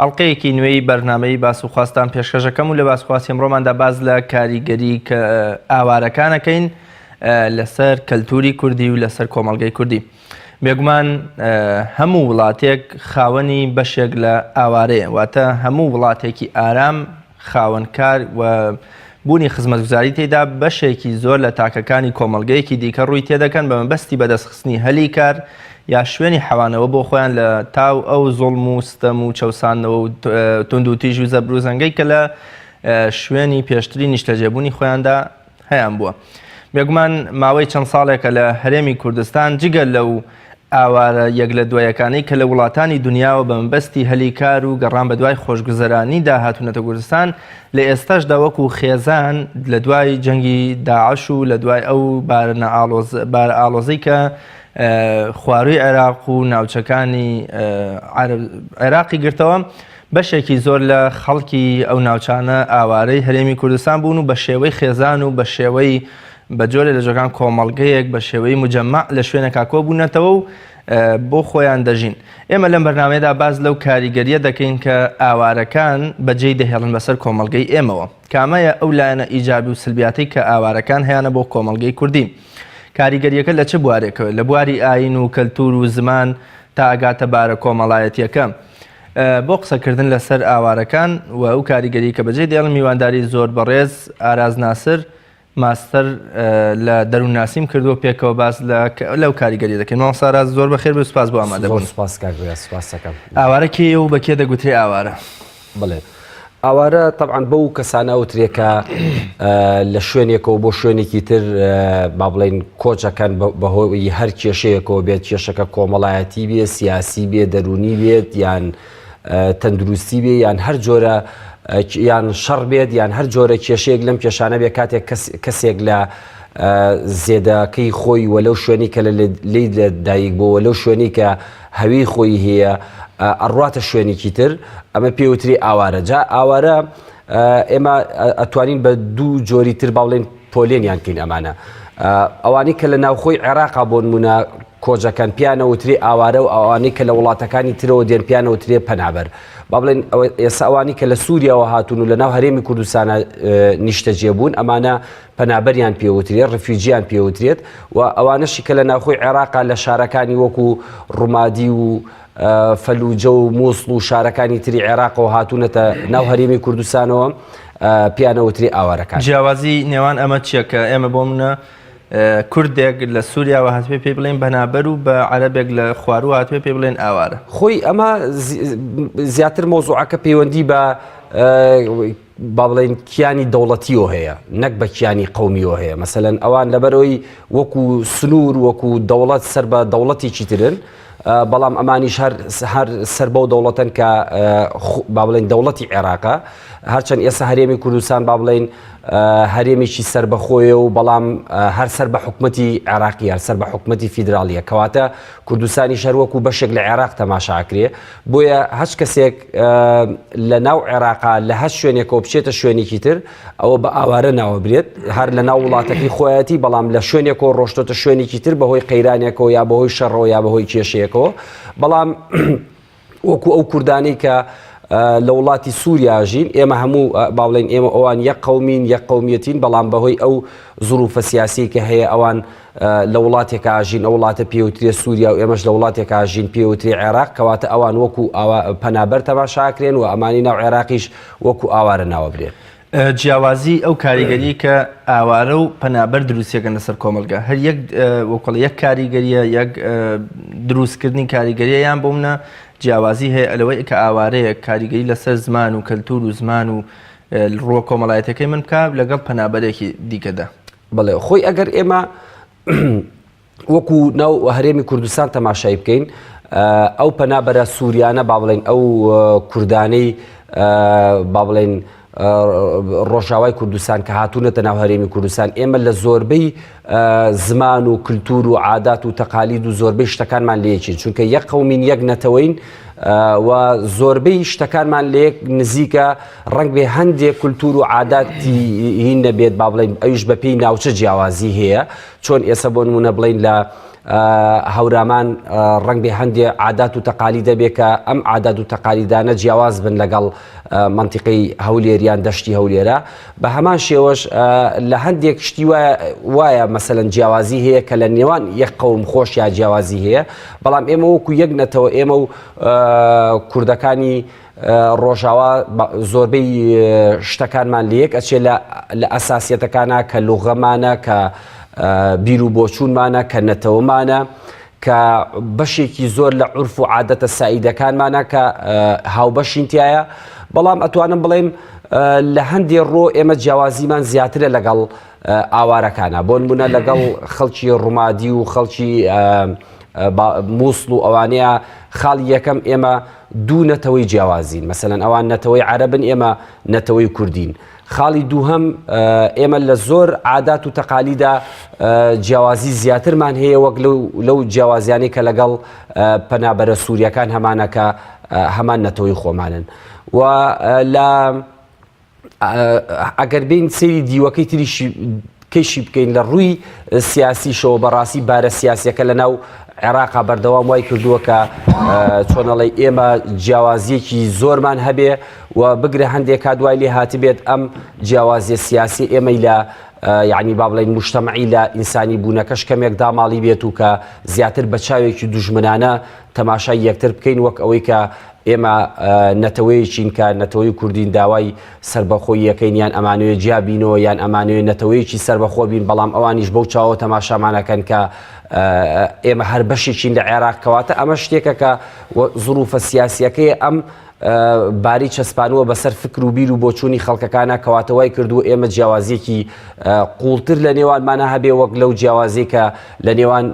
ئەڵقەیەکی نوێی بەرنامەی باس و خواستان پێشکەش دەکەم و لە باس خواستی ئەمڕۆماندا باس لە کاریگەریی ئاوارەکان دەکەین لەسەر کەلتووری کوردی و لەسەر کۆمەڵگەی کوردی. بێگومان هەموو وڵاتێک خاوەنی بەشێک لە ئاوارەیە، واتە هەموو وڵاتێکی ئارام، خاوەن کار و بوونی خزمەتگوزاری تێیدا بەشێکی زۆر لە تاکەکانی کۆمەڵگەیەکی دیکە ڕووی تێدەکەن بە مەبەستی بەدەستخستنی هەلی کار یا شوێنی حەوانەوە بۆ خۆیان لە تاو ئەو زوڵم و ستەم و چەوساندنەوە و توندوتیژ و زەبروزەنگەی کە لە شوێنی پێشتری نیشتەجێبوونی خۆیاندا هەیان بووە. بێگومان ماوەی چەند ساڵێکە لە هەرێمی کوردستان جگە لەو ئاوارە یەک لە دوایەکانەی کە لە وڵاتانی دنیاوە بە مەبەستی هەلی کار و گەڕان بە دوای خۆشگوزەرانیدا هاتوونەتە کوردستان، لە ئێستاشدا وەکو خێزان لە دوای جەنگی داعش و لە دوای ئەو بارە ئاڵۆزەی کە خوارووی عێراق و ناوچەکانی عێراقی گرتەوە، بەشێکی زۆر لە خەڵکی ئەو ناوچانە ئاوارەی هەرێمی کوردستان بوون و بە شێوەی خێزان و بە شێوەی بە جۆرێ لە جۆرەکان کۆمەڵگەیەک بە شێوەی موجەمەع لە شوێنێکا کۆ بوونەتەوە و بۆ خۆیان دەژین. ئێمە لەم بەرنامەیەدا باس لەو کاریگەرییە دەکەین کە ئاوارەکان بە جێی دەهێڵن بەسەر کۆمەڵگەی ئێمەوە. کامەیە ئەو لایەنە ئیجابی و سلبیاتەی کە ئاوارەکان هەیانە بۆ کۆمەڵگەی کوردی؟ کاریگەرییەکە لە چ بوارێکەوە؟ لە بواری ئایین و کەلتوور و زمان تا ئەگاتە بارە کۆمەڵایەتییەکە. بۆ قسەکردن لەسەر ئاوارەکان و ئەو کاریگەری کە بەجێ دێڵن میوانداری زۆر بەڕێز ئاراز ناسر ماستەر لە دەروونناسیم کردووە پێکەوە باس لەو کاریگەری دەکەین ماوە ساراز زۆر بەخێر بێ سپاس بۆ ئامادەبوون ئاوارەکێ و بەکێ دەگوترێ ئاوارە بڵێت ئاوارە تەبعەن بەو کەسانە ئەوترێ کە لە شوێنێکەوە بۆ شوێنێکی تر با بڵین کۆچەکەن بەهۆی هەر کێشەیەکەوە بێت کێشەکە کۆمەڵایەتی بێ سیاسی بێ دەرونی بێت یان تەندروستی بێ یان هەر جۆرە یان شەڕ بێت یان هەر جۆرە کێشەیەک لەم کێشانە بێ کاتێک کەسێک لە زێدەکەی خۆی وە لەو شوێنی کە لە لی لە دایک بۆ وە لەو شوێنی کە هەوی خۆی هەیە ئەڕواتە شوێنێکی تر ئەمە پێوتری ئاوارە جا ئاوارە ئێمە ئەتوانین بە دوو جۆری تر باڵێن پۆلێنیان کەین ئەمانە ئەوانەی کە لە ناوخۆی عێراقا بۆ نمونە کۆجەکان پیانەوتری ئاوارە و ئەوانەی کە لە وڵاتەکانی ترەوە دێن پیانەوترێ پەنابەر با بڵێن ئێساوانی کە لە سووریەوە هاتون و لە ناو هەرێمی کوردستانە نیشتەجێ بوون ئەمانە پەنابەریان پێ وترێت، ڕفیوجیان پێ وترێت و ئەوانەشی کە لە ناوخۆی عێراقا لە شارەکانی وەکو ڕومادی و فەلوجە و موسڵ و شارەکانی تری عێراقەوە هاتوونەتە ناو هەرێمی کوردستانەوە پێیانە وترێ ئاوارەکان. جیاوازی نێوان ئەمە چیە کە ئێمە بۆ منە کوردێک لە سووریاوە هاتبێ پێی بڵێن بەنابەر و بە عەرەبێک لە خواروە هاتبێ پێ بڵێن ئاوارە خۆی ئەمە زیاتر مۆزوعەکە پەیوەندی بە با بڵێین کیانی دەوڵەتیەوە هەیە نەک بە کیانی قەومیەوە هەیە مەسەلەن ئەوان لەبەرەوەی وەکو سنوور وەکو دەوڵەت سەر بە دەوڵەتێکی ترن بەڵام ئەمانیش هەر هەر سەر بەو دەوڵەتەن کە با بڵێن دەوڵەتی عێراقە هەرچەند ئێستا هەرێمی کوردستان با بڵێن هەرێمێکی سربەخۆیە و بەڵام هەر سەر بە حکوومەتتی عێراقی هەر سەر بە حکوومەتتی فیدراالیە کەواتە کوردستانی شەروەکو بەشێک لە عێراق تەماشاکرێ بۆیە هەچ کەسێک لە ناو عێراقا لە هەر شوێنێکەوە بچێتە شوێنێکی تر ئەوە بە ئاوارە ناوەبرێت هەر لە ناو وڵاتەکەی خۆیەتی بەڵام لە شوێنێکەوە ڕۆشتۆتە شوێنێکی تر بەهۆی قەیرانێکەوە یا بەهۆی شەڕەوە یا بەهۆی کێشەیەکەوە بەڵام وەکو ئەو کوردانەی کە لە وڵاتی سووریاژین ئێمە هەموو باڵێن ئێمە ئەوان یە قومین یە قومیەتین بەڵام بەهۆی ئەو زروفە سیاسی کە هەیە ئەوان لە وڵاتێکا ئەژین، ئەو وڵاتە پێوترێ سووریا و ئێمەش لە وڵاتێکا ئەژین پێوترێ عێراق، کەواتە ئەوان وەکو پەنابەر تەماشا ئەکرێن و ئەمانەی ناو عێراقیش وەکو ئاوارە ناو ئەبرێن. جیاوازیی ئەو کاریگەرییەی کە ئاوارە و پەنابەر دروستی ئەکەن لەسەر کۆمەڵگا، هەر یەک وەکو ئەڵێ یەک کاریگەرییە، یەک دروستکردنی کاریگەرییە، یان بۆ منە جیاوازی هەیە لەوەی کە ئاوارەیەک کاریگەری لەسەر زمان و کەلتوور و زمان و ڕووە کۆمەڵایەتییەکەی من بکا لەگەڵ پەنابەرێکی دیکەدا. بەڵێ خۆی ئەگەر ئێمە وەکو ناو هەرێمی کوردستان تەماشای بکەین ئەو پەنابەرە سووریانە با بڵێن ئەو کوردانەی با بڵێن ڕۆژاوای کوردستان کە هاتوونەتە ناو هەرێمی کوردستان ئێمە لە زۆربەی زمان و کللتور و عادات و تەقالید و زۆربەی شتەکانمان لەیەکین چونکە یەک قومین یەک نەتەوەین و زۆربەی شتەکانمان لێک نزیکە ڕەنگبێ هەندێ کولتوور و عاداتی هین نەبێت با بڵێن ئەویش بە پێی ناوچە جیاوازی هەیە چۆن ئێستا بۆ نمونە بڵین لە هەورامان ڕەنگبێ هەندێ عادات و تەقالی دەبێت کە ئەم عادات و تەقالیدانە جیاواز بن لەگەڵ منتیقی هەولێریان دەشتی هەولێرە بە هەمان شێوەش لە هەندێک شتی وایە مەسەن جیاوازی هەیە کە لە نێوان یەک قوم خۆش یا جیاوازی هەیە بەڵام ئێمە وەکو یەک نەتەوە ئێمە و کوردەکانی ڕۆژاوا زۆربەی شتەکانمان لەیەک ئەچێ لە ئەساسیەتەکانە کە لوغەمانە کە بیر و بۆچوونمانە کە نەتەوەمانە کە بەشێکی زۆر لە عرف و عادەتە سعیدەکانمانە کە هاوبەشینتیایە بەڵام ئەتوانم بڵێم لە هەندێ ڕۆ ئێمە جیاوازیمان زیاترە لەگەڵ ئاوارەکانە بۆن بوونە لەگەڵ خەڵکی ڕوومادی و خەڵکی مووسڵ و ئەوانەیە خاڵی یەکەم ئێمە دوو نەتەوەی جیاوازین، مەسەلەن ئەوان نەتەوەی عەرەبن ئێمە نەتەوەی کوردین. خاڵی دووهەم، ئێمە لە زۆر عادات و تەقالیدا جیاوازی زیاترمان هەیە وەک لەو جیاوازیانەی کە لەگەڵ پەنابەرە سوورییەکان هەمانە کە هەمان نەتەوەی خۆمانن و لە ئەگەر بین سری دیوەکەی تریشی کەشی بکەین لە ڕووی سیاسیشەوە بەڕاستی بارە سیاسەکە لە ناو عێراقا بەردەوام وای کردووە کە چۆنەڵی ئێمە جیاوازیەکی زۆرمان هەبێ و بگرە هەندێک کا دوای لێ هاتبێت ئەم جیاوازیە سیاسی ئێمەی لە یعنی با بڵین مشتمەعی لە ئینسانی بوونەکەش کەمێک داماڵی بێت و کە زیاتر بە چاوێکی دژمنانە تەماشای یەکتر بکەین وەک ئەوەی کە ئێمە نەتەوەیەکین کە نەتەوەی کوردین داوای سربەخۆی یەکەین یان ئەمانوێ جیا بینەوە یان ئەمانوێ نەتەوەیەکی سربەخۆ بین بەڵام ئەوانیش بەو چاوە تەماشامانەکەن کە ئێمە هەر بەشێکین لە عێراق کەواتە ئەمە شتێکە کە زروفە سیاسیەکەی ئەم باری چەسپانووە بەسەر فکر و بیر و بۆچوونی خەڵکەکانە کەواتە وای کردووە ئێمە جیاوازیەکی قوڵتر لە نێوانمانە هەبێ وەک لەو جیاوازی کە لە نێوان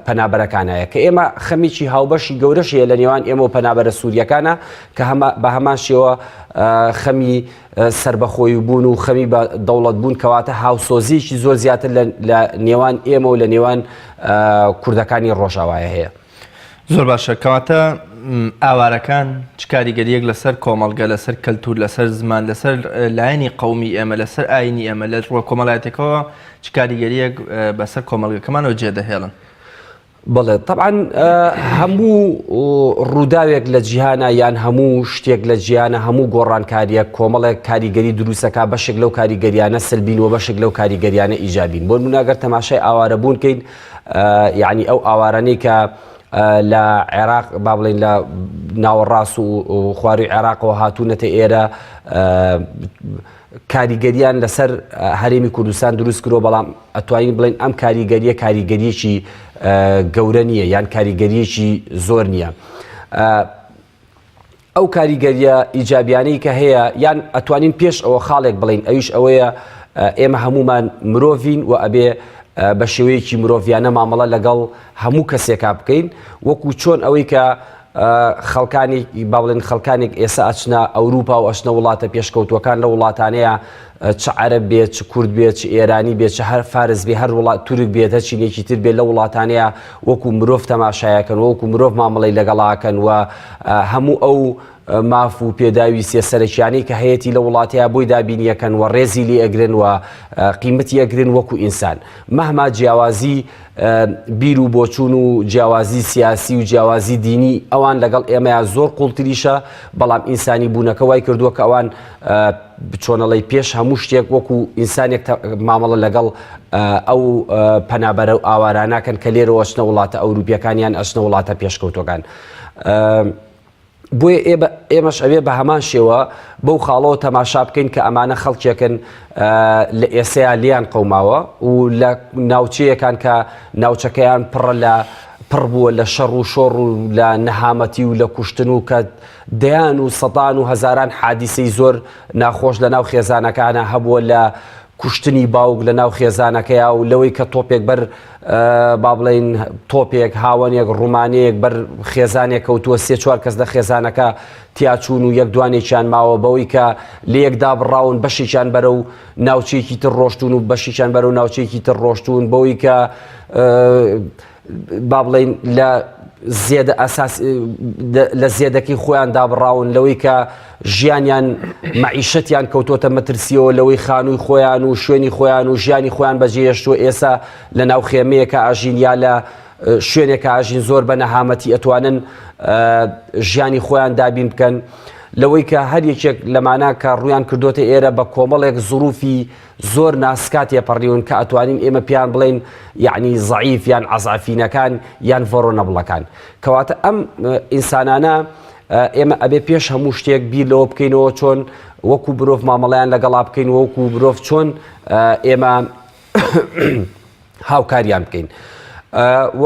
پەنابەرەکانەیە کە ئێمە خەمیکی هاوبەشی گەورەشەیە لە نێوان ئێمە و پەنابەرە سووریەکانە کە بە هەمان شێوە خەمی سربەخۆی بوون و خەمی بە دەوڵەت بوون کەواتە هاوسۆزیەکی زۆر زیاتر لە نێوان ئێمە و لە نێوان کوردەکانی ڕۆژاوایە هەیە. زۆر باشە کەواتە ئاوارەکان چ کاریگەریەک لەسەر کۆمەڵگە لەسەر کەلتور لەسەر زمان لەسەر لایەنی قومی ئێمە لەسەر ئاینی ئێمە لە ڕوە کۆمەڵایەتەکەەوە چ کاریگەریەک بەسەر کۆمەڵگەکەمانەوە جێدەهێڵن بڵێ طبعاان هەموو ڕووداوێک لە جیهانە یان هەموو شتێک لە جیانە هەموو گۆڕانکاریە کۆمەڵێک کاریگەری دروستەکە بەشێک لەو کاریگەریانە سلبین و بەشێک لەو کاریگەریانە ئیجابین بۆ منناگەر تەماشای ئاوارەبوونکەین یەعنی ئەو ئاوارانەی کە لە عێراق با بڵێین لە ناوەڕاست و خواروی عێراقەوە هاتوونەتە ئێرە کاریگەریان لەسەر هەرێمی کوردستان دروست کرۆ بەڵام ئەتوانین بڵێن ئەم کاریگەریە کاریگەریەکی گەورە نییە یان کاریگەریەکی زۆر نییە. ئەو کاریگەریە ئیجابیانەی کە هەیە یان ئەتوانین پێش ئەوە خاڵێک بڵین ئەویش ئەوەیە ئێمە هەمومان مرۆڤین و ئەبێ بە شێوەیەکی مرۆڤیانە مامەڵە لەگەڵ هەموو کەسێکا بکەین وەکو چۆن ئەوەی کە خەڵکانی باڵێن خەڵکانێک ئێسا ئەچنە ئەوروپا و ئەشنە وڵاتە پێشکەوتوەکان لە وڵاتانەیە چ عەرەب بێت چ کورد بێت چ ئێرانی بێت چ هەر فارس بێ هەر وڵات تورک بێت هەر چینێکی تر بێت لە وڵاتانەیە وەکو مرۆڤ تەماشایەکەن وەکو مرۆڤ مامەڵەی لەگەڵاکەن و هەموو ئەو ماف و پێداویستە سەرەکیانەی کە هەیەی لە وڵاتەیە بۆی دابینیەکەن و ڕێزی لێ ئەگرن و قیمەتی ئەگرن وەکو ئینسان مەهما جیاوازی بیر و بۆچوون و جیاوازی سیاسی و جیاوازی دینی ئەوان لەگەڵ ئێمەیان زۆر قوڵتریشە بەڵام ئینسانی بوونەکە وای کردووە کە ئەوان چۆنەڵێی پێش هەموو شتێک وەکو ئینسانێک تە مامەڵە لەگەڵ ئەو پەنابەرە و ئاواراناکەن کە لێرەوە ئەچنە وڵاتە ئەوروپیەکان یان ئەچنە وڵاتە پێشکەوتوەکان. بۆیە ئێ ئێمەش ئەوێ بە هەمان شێوە بەو خاڵەوە تەماشا بکەین کە ئەمانە خەڵکێکن لە ئێسەیا لێیان قەوماوە و لە ناوچەیەکان کە ناوچەکەیان پڕە لە پڕ بووە لە شەڕ و شۆڕ و لە نەهامەتی و لە کوشتن و کە دەیان و سەدان و هەزاران حادیسەی زۆر ناخۆش لە ناو خێزانەکانا هەبووە لە کوشتنی باوک لە ناو خێزانەکەیا و لەوەی کە تۆپێک بەر با بڵین تۆپێک هاوەنێک ڕوومانەیەک بەر خێزانێک کەوتووە سێ چوار کەس لە خێزانەکە تیاچوون و یەک دوانێکیان ماوە بەوەی کە لە یەکدا بڕاون بەشێکیان بەرە و ناوچێکی تر ڕۆشتون و بەشیان بەرە و ناوچێکی تر ڕۆشتون بەوەی کە با بڵێین لە زێدە ئەساس لە زێدەکەی خۆیان دابڕاون لەوەی کە ژیانیان مەعیشەتیان کەوتۆتە مەترسیەوە لەوەی خانووی خۆیان و شوێنی خۆیان و ژیانی خۆیان بەجێهێشتووە ئێسا لە ناو خێمەیەکە ئاژین یا لە شوێنێکە ئاژین زۆر بە نەهامەتی ئەتوانن ژیانی خۆیان دابین بکەن لەوەی کە هەر یەکێک لەمانە کە ڕویان کردوتە ئێرە بە کۆمەڵێک زروفی زۆر ناسکا تێپەڕیون کە ئەتوانین ئێمە پێیان بڵێین یعنی زەعیف یان عەزعەفینەکان یان ڤۆرۆنەبڵەکان کەواتە ئەم ئینسانانە ئێمە ئەبێ پێش هەموو شتێک بیر لەوە بکەینەوە چۆن وەکو برۆڤ مامەڵیان لەگەڵا بکەین وەکو برۆڤ چۆن ئێمە هاوکاریان بکەین و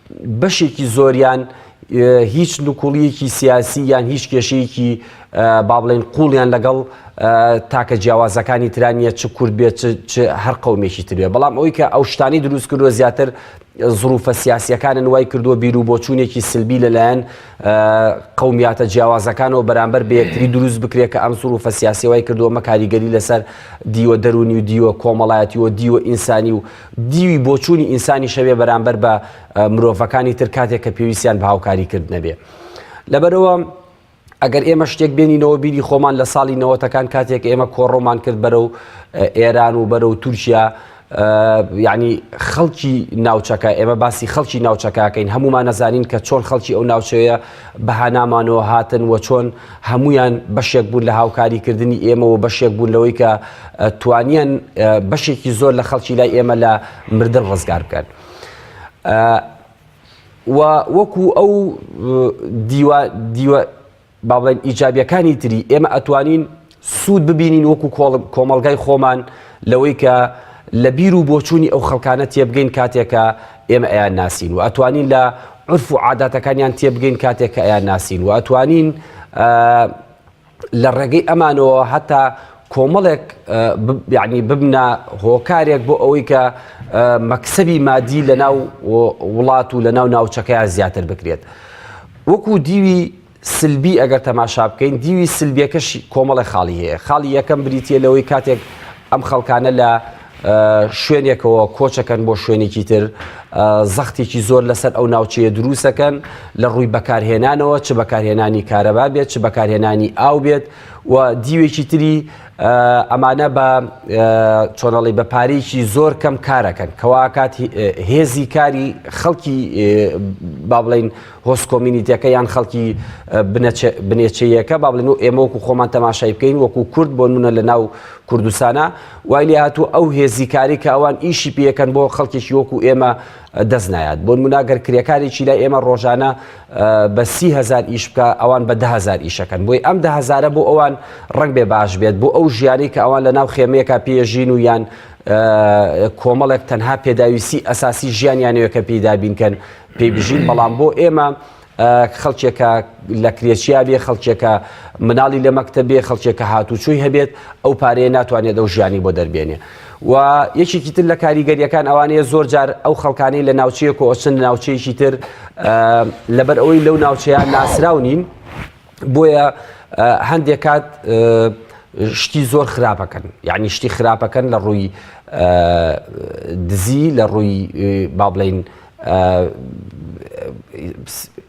بەشێکی زۆریان هیچ نکوڵیەکی سیاسی یان هیچ کێشەیەکی با بڵێن قوڵیان لەگەڵ تاکە جیاوازەکانی تران نیە چ کورد بێت هەر قومێکی ترێ بەڵام ئەوی کە ئەو شتانی دروست کردوە زیاتر زروفە سیاسیەکانن وای کردووە بیر و بۆچوونێکی سلبی لەلایەن قومیاتە جیاوازەکانەوە بەرامبەر بەیەکتری دروست بکرێت کە ئەم زروفە سیاسی وای کردووە مە کاریگەری لەسەر دیوە دەرونی و دیوە کۆمەڵایەتی و دیوە ئینسانی و دیوی بۆچوونی ئینسانیش هەبێ بەرامبەر بە مرۆڤەکانی تر کاتێک کە پێویستیان بە هاوکاری کردنە بێ لەبەرەوە ئەگەر ئێمە شتێک بێنینەوە بیری خۆمان لە ساڵی نەوەتەکان کاتێک ئێمە کۆڕۆمان کرد بەرە و ئێران و بەرە و تورکیا یعنی خەڵکی ناوچەکە ئێمە باسی خەڵکی ناوچەکەکەین هەمومان نەزانین کە چۆن خەڵکی ئەو ناوچەیە بەهانامانەوە هاتن و چۆن هەموویان بەشێک بوون لە هاوکاری کردنی ئێمە و بەشێک بوون لەوەی کە توانیان بەشێکی زۆر لە خەڵکی لای ئێمە لە مردن ڕزگار بکەن. و وەکو ئەو دیوە دیوە بابڵێن ئیجابیەکانی تری ئێمە ئەتوانین سوود ببینین وەکو کۆمەڵگای خۆمان لەوەی کە لە بیر و بۆچوونی ئەو خەڵکانە تێبگەین کاتێک کە ئێمە ئەیان ناسین و ئەتوانین لە عرف و عاداتەکانیان تێبگەین کاتێک کە ئەیان ناسین و ئەتوانین لە ڕێگەی ئەمانەوە هەتا کۆمەڵێک یعنی ببنە هۆکارێک بۆ ئەوەی کە مەکسبی مادی لە ناو وڵات و لە ناو ناوچەکەیان زیاتر بکرێت وەکو دیوی سلبی ئەگەر تەماشا بکەین دیوی سلبیەکەش کۆمەڵە خاڵی هەیە خاڵی یەکەم بریتە لەوەی کاتێک ئەم خەڵکانە لە شوێنێکەوە کۆچەکەن بۆ شوێنێکی تر زەختێکی زۆر لەسەر ئەو ناوچەیە دروستەکەن لە ڕووی بەکارهێنانەوە چ بەکارهێنانی کارەبا بێت چ بەکارهێنانی ئاو بێت و دیوێکی تری ئەمانە بە چۆنەڵی بە پارێکی زۆر کەم کارەکەن کەواکات هێزی کاری خەڵکی با بڵین هۆست کۆمینیتەکە یان خەڵکی بنێچەیەکە با بڵێن و ئێمە وەکو خۆمان تەماشای بکەین وەکو کورد بۆ نمونە لە ناو کوردستانە وای لێ هاتوو ئەو هێزی کاری کە ئەوان ئیشی پێەکەن بۆ خەڵکێکی وەکو ئێمە دەست نایات بۆن مناگەر کرێکارێکی لای ئێمە ڕۆژانە بە سی هزار ئیش بکە ئەوان بە دههزار ئیشەکەن بۆی ئەم دههزارە بۆ ئەوان ڕنگ بێ باش بێت بۆ ئەو ژیانی کە ئەوان لە ناو خێمەیەکە پێژین و یان کۆمەڵێک تەنها پێداویستی ئەساسی ژیانیانەیە کە پێدابینکەن پێی بژین بەڵام بۆ ئێمە خەڵکێکە لە کرێچیا بێ خەڵکێکە مناڵی لە مەکتە بێ خەڵکێکە هاتوچووی هەبێت ئەو پارەیە ناتوانێت ئەو ژیانی بۆ دەربێنێ و یەکێکی تر لە کاریگەریەکان ئەوانەیە زۆر جار ئەو خەڵکانی لە ناوچەیە کۆچن ناوچەیەکی تر لەبەر ئەوەی لەو ناوچەیان ناسرااو نین بۆیە هەندێک کات شتی زۆر خراپەکەن یعنی شتی خراپەکەن لە ڕووی دزی لە ڕووی با بڵین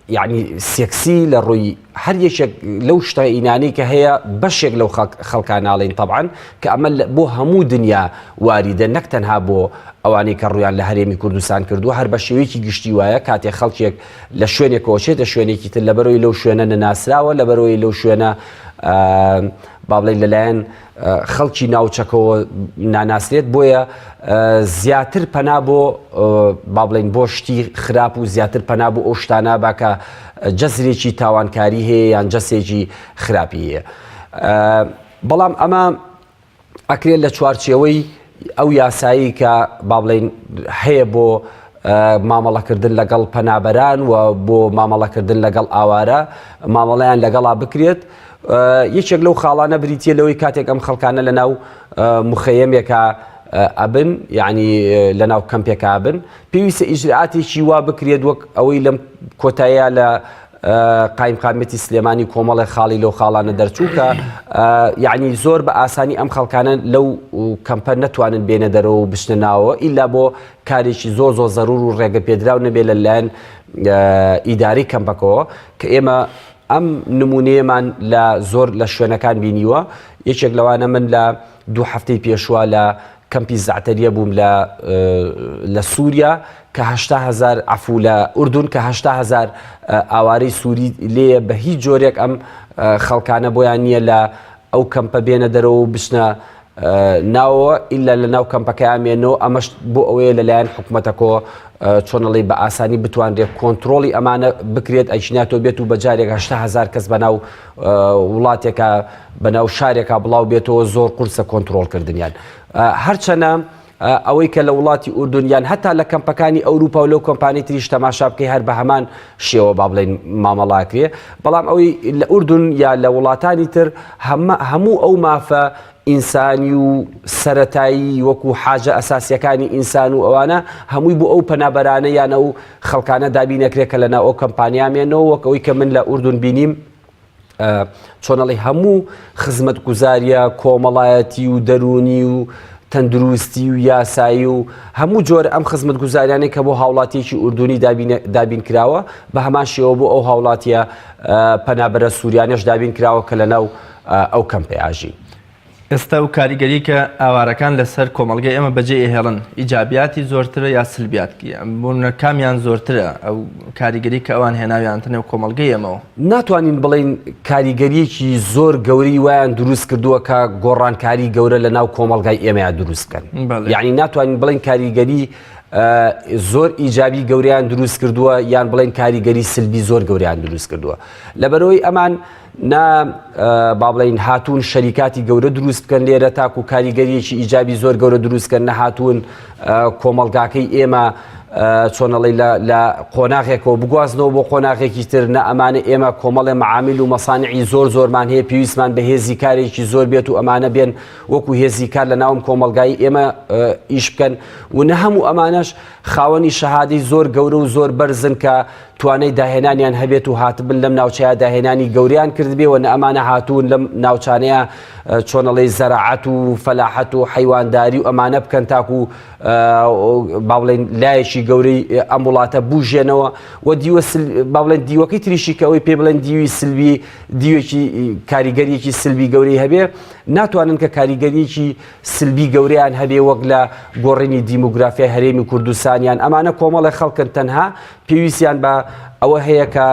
یعنی سێکسی لە ڕووی هەر یەکێک لەو شتەئینانەی کە هەیە بەشێک لەو خەڵکان ناڵین طبعاان کە ئەمە بۆ هەموو دنیا واریدە نەک تەنها بۆ ئەوانەی کە ڕویان لە هەرێمی کوردستان کردووە هەر بە شێوەیەکی گشتی وایە کاتێ خەڵکێک لە شوێنێکەوە چێتە شوێنێکی تر لەبەرەوەی لەو شوێنە نەناسراوە لەبەرەوەی لەو شوێنە بابلین لەلایەن خەڵکی ناوچەکەوە ناناسرێت بۆیە زیاتر پەنا بۆ با بڵین بۆ شتی خراپ و زیاتر پەنا بۆ ئەو شتانە با کە جەزرێکی تاوانکاری هەیە یان جەسێکی خراپی هەیە بەڵام ئەمە ئەکرێت لە چوارچێوەی ئەو یاسایی کە با بڵێین هەیە بۆ مامەڵەکردن لەگەڵ پەنابەران و بۆ مامەڵەکردن لەگەڵ ئاوارە مامەڵیان لەگەڵا بکرێت یەکێک لەو خاڵانە بریتە لەوەی کاتێک ئەم خەڵکانە لە ناو مخەیەمێکە ئەبن یعنی لە ناو کەمپێکابن پێویستە ئیجرعاتێکی وا بکرێت وەک ئەوەی لەم کۆتایە لە قایمقامیەتی سلێمانی کۆمەڵێ خاڵی لەو خاڵانە دەرچوو کە یعنی زۆر بە ئاسانی ئەم خەڵکانە لەو کەمپە نەتوانن بێنە دەرەوە و بشنە ناوە ئیلا بۆ کارێکی زۆ زۆ زەرور و ڕێگە پێدراو نەبێ لە لایەن ئیداری کەمپەکەەوە کە ئێمە ئەم نمونەیەمان لە زۆر لە شوێنەکان بینیوە یەکێک لەوانە من لە دوو هەفتەی پێشوە لە کەمپی زەعتەریە بووم لە لە سوریا کە هەشتا هەزار عفو لە ئوردون کە هەشتا هەزار ئاوارەی سووری لێیە بە هیچ جۆرێک ئەم خەڵکانە بۆیان نییە لە ئەو کەمپە بێنە دەرەوە و بچنە ناوەوە ئللا لە ناو کەمپەکەیان مێنەوە ئەمەش بۆ ئەوەیە لەلایەن حکوومەتەکۆ چۆنەڵی بە ئاسانی بتوانرێت کۆنتترۆڵی ئەمانە بکرێت ئەیشناتۆ بێت و بە جارێک هەشتا هزار کەس بەناو وڵاتێکا بەناو شارێکا بڵاو بێتەوە زۆر قورسە کۆنتترۆل کردنیان هەرچەنە ئەوەی کە لە وڵاتی ئوردنیان هەتا لە کەمپەکانی ئەوروپا و لەو کۆمپانی تریش تەماشا بکەی هەر بە هەمان شێوە با بڵێن مامەڵاکرێ بەڵام ئەوەی لە ئوردن یا لە وڵاتانی تر هەموو ئەو مافە ئینسانی و سەرەتایی وەکو حاجە ئەساسیەکانی ئینسان و ئەوانە هەمووی بۆ ئەو پەنابەرانە یان ئەو خەڵکانە دابین ئەکرێت کە لەناو ئەو کەمپانیا مێنەوە وەک ئەوی کە من لە ئوردون بینیم چۆنەڵی هەموو خزمەت گوزاریە کۆمەڵایەتی و دەرونی و تەندروستی و یاسایی و هەموو جۆر ئەم خزمەت گوزاریانەی کە بۆ هاوڵاتیەکی ئوردونی دابین کراوە بە هەمان شێوە بۆ ئەو هاوڵاتیە پەنابەرە سووریانەش دابین کراوە کە لە ناو ئەو کەم پەیاژی. ئێستا و کاریگەری کە ئاوارەکان لە سەر کۆمەڵگەی ئێمە بە جێ ئەهێڵن ئیجابیاتی زۆرترە یا سلبیاتکی بوونە کامیان زۆرترە ئەو کاریگەری کە ئەوان هێناویانتە نێو کۆمەڵگەی ئێمەوە؟ ناتوانین بڵێین کاریگەریەکی زۆر گەورەی وایان دروست کردووە کە گۆڕانکاری گەورە لە ناو کۆمەڵگای ئێمەیا دروست بکەن یعنی ناتوانین بڵێن کاریگەری زۆر ئیجابی گەوریان دروست کردووە یان بڵێن کاریگەری سلبی زۆر گەوریان دروست کردووە لەبەرەوەی ئەمان نا با بڵین هاتوون شەریکاتی گەورە دروست بکەن لێرە تاکو و کاریگەریەکی ئیجابی زۆر گەورە دروستکەن نەهاتوون کۆمەلگاکەی ئێمە چۆنەڵی لە قۆناغێکەوە بگوازنەوە بۆ قۆناغێکی تر نە ئەمانە ئێمە کۆمەڵێ معامیل و مەسانعی زۆر زۆرمان هەیە پێویستمان بە هێزی کارێکی زۆر بێت و ئەمانە بێن وەکو هێزی کار لە ناوم کۆمەلگای ئێمە ئیش بکەن و نە هەموو ئەمانەش خاوەنی شەهادی زۆر گەورە و زۆر بەرزن کە توانای داهێنانیان هەبێت و هاتبن لەم ناوچەیە داهێنانی گەوریان کردبێ و نە ئەمانە هاتوون لەم ناوچانەیە چۆنەڵی زەراعەت و فەلاحەت و حەیوانداری و ئەمانە بکەن تاکو باڵێن لایەکی گەورەی ئەم وڵاتە بژێنەوە و دیوە باڵێن دیوەکەی تریشی کە ئەوەی پێ بڵێن دیوی سلوی دیوێکی کاریگەریەکی سلبی گەورەی هەبێ ناتوانن کە کاریگەریەکی سلبی گەوریان هەبێ وەک لە گۆڕینی دیموگرافیای هەرێمی کوردستانیان ئەمانە کۆمەڵە خەڵکن تەنها پێویستیان بە ئەوە هەیە کە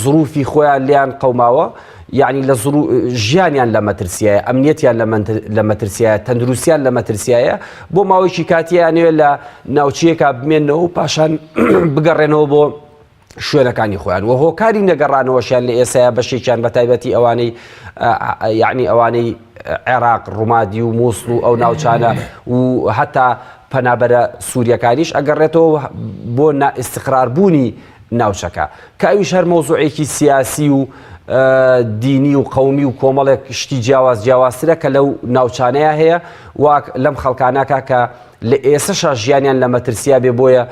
زروفی خۆیان لیان قەوماوە یعنی لە ژیانیان لە مەترسیایە ئەمنیەتیان لە مەترسیایە تەندروستیان لە مەترسیایە بۆ ماوەیەکی کاتیانوێ لە ناوچەیەکە بمێنەوە و پاشان بگەڕێنەوە بۆ شوێنەکانی خۆیان و هۆکاری نەگەڕانەوەشیان لە ئێسایا بەشێکیان بە تایبەتی ئەوانەی یعنی ئەوانەی عێراق ڕوومادی و مووسڵ و ئەو ناوچانە و هەتا پەنابەرە سوریەکانیش ئەگەڕێتەوە بۆ نا ئیستقرار بوونی ناوچەکە کە ئەویش هەر مەوزوعێکی سیاسی و دینی و قومی و کۆمەڵێک شتی جیاواز جیاوازترە کە لەو ناوچانەیە هەیە واک لەم خەڵکانەکە کە لە ئێسەشا ژیانیان لە مەترسیا بێ بۆیە